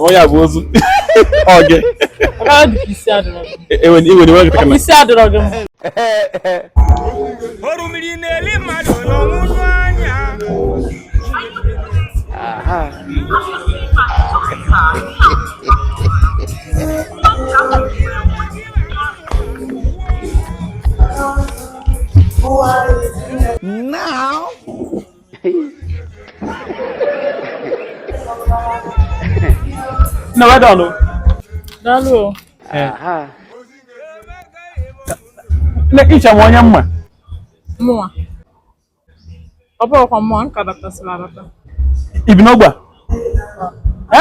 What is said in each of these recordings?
onye a bụ ozu oge isi adịrọ gị mma oru mmiri na-eli mmadụ n'ọnwụnụ anya Now nne weda ọnụ daalụ iche m onye mma mụnwa ọ bụrụkwa mmụọ nka batasịla abata ibi n'ogbe a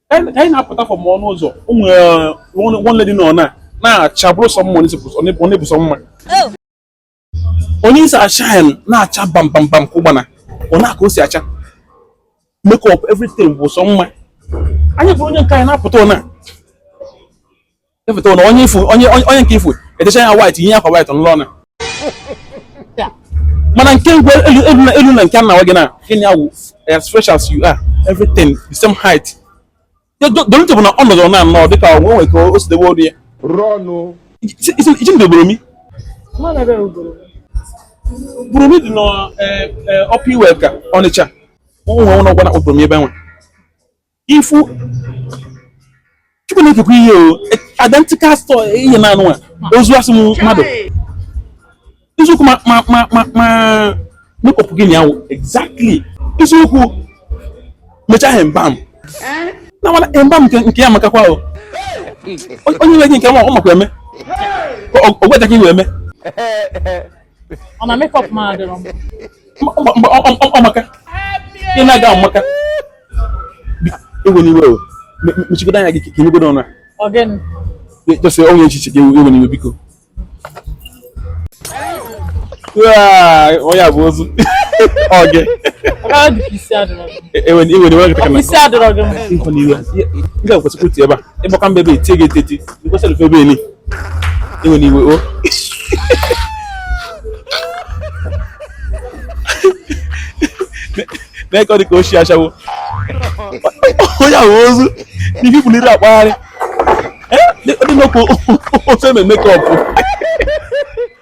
ka anyị na-apụta from ọnụ ụzọ ụmụ uh, nwanne dị n'ọna na-acha bụrụ sọ mma ọ na-abụ sọ mma onye isi ashine na-acha bam bam bam ka ugbana ọ na-aka o si acha makeup everything bụ sọ mma anyị bụrụ onye nke anyị na-apụta ọna Ịfụta na onye ifu onye onye nke ifu etecha ya white ihe akwa white n'ụlọ ọnụ. Mana nke ngwe elu elu na elu na nke nna gị na gịnị awụ as fresh as you are everything the same height. The only thing bụ na ọ nọdụrụ na anọ dịka onye nwere ka o si dewe olu ya. Rọnụ. Iji ndị obodo mi. Bụrụ mi dị n'ọpụ iwe ka Ọnịcha. Ụmụ nwa ụlọ gwana obodo mi ebe nwe. ifu chukwu na-ekekwa ihe o identical store ihe na anụ a ozu asị m mmadụ eziokwu ma ma ma ma ma makeup gị nyawo exactly eziokwu mechaa ha mbam na mana mbam nke nke ya makakwa o onye nwe gị nke ma ọ makwa eme ogweja ka iwe eme ọ na makeup m adịrọ m ọmaka ị na-aga ọmaka ewena iwe o mechigodo anya gị ka enyegodo ọnụ ọ gịnị jọsị ọnwụ echiche gị ewena iwe biko onye a bụ ozu oge ewena iwe nkịta kana isi adịrọ gị m nkọ n'iwe nke kwesịkwụ ti ebe a ịgbaka mbe ebe etie gị eteti ikwesịrị fe ebe eli Ewena iwe o. Oh. N'eke ọ dị ka o si ashawo. Onye ahụ ozu n'ihi buliri akpagharị. Ọ dị nnọọ ka ozu eme makeup.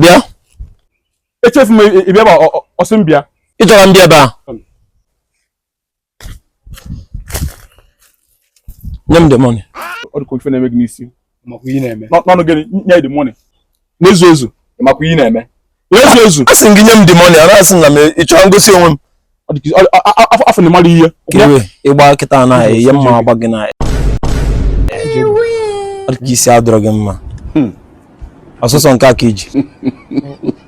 bịa echefu m ịbịa ebe ọ sị m bịa ị chọrọ m bịa ebe a nye m the money ọ dịka ife na-eme gị n'isi n'ọnụ gịnị nye the money n'ezu ezu makwa ihe na-eme n'ezu ezu a sị gị nye m the money a na-asị na m ị chọrọ ngosi onwe m afọ na mmadụ ihe ịgba kịta na ihe mma agba gị na isi adịrọ gị mma hmm. ọsụsọ nke aka iji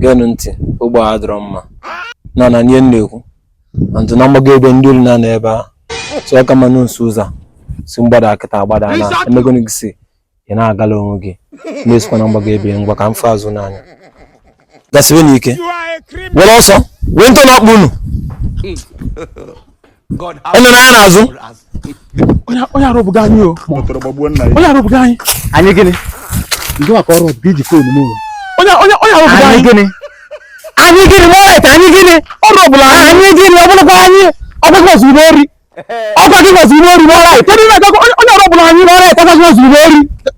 geenụ ntị ogbe a adịrọ mma na na ihe na-ekwu and na mgbago ebe ndị olu na-anọ ebe a so ọ ka mmanụ nso ụzọ si mgbada akịta agbada na emegonu gị si ị na-agala onwe gị na-esikwa na mgbago ebe ngwa ka m fụ azụ n'anya gasiwe n'ike were ọsọ wee ntọ na-akpụ unu onye na ya n'azụ onye arụbụga anyị o onye arụbụga anyị anyị gịnị ndị maka ọrụ ọbụga iji fon m onye arụbụga anyị gịnị anyị gịnị ma ọrịa anyị gịnị ọrụ ọbụla anyị gịnị ọbụlụkwa anyị ọgbakọ ozugbo ori ọgbakọ ozugbo ori n'ọrịa onye ọrụ ọbụla anyị n'ọrịa ọgbakọ ozugbo ori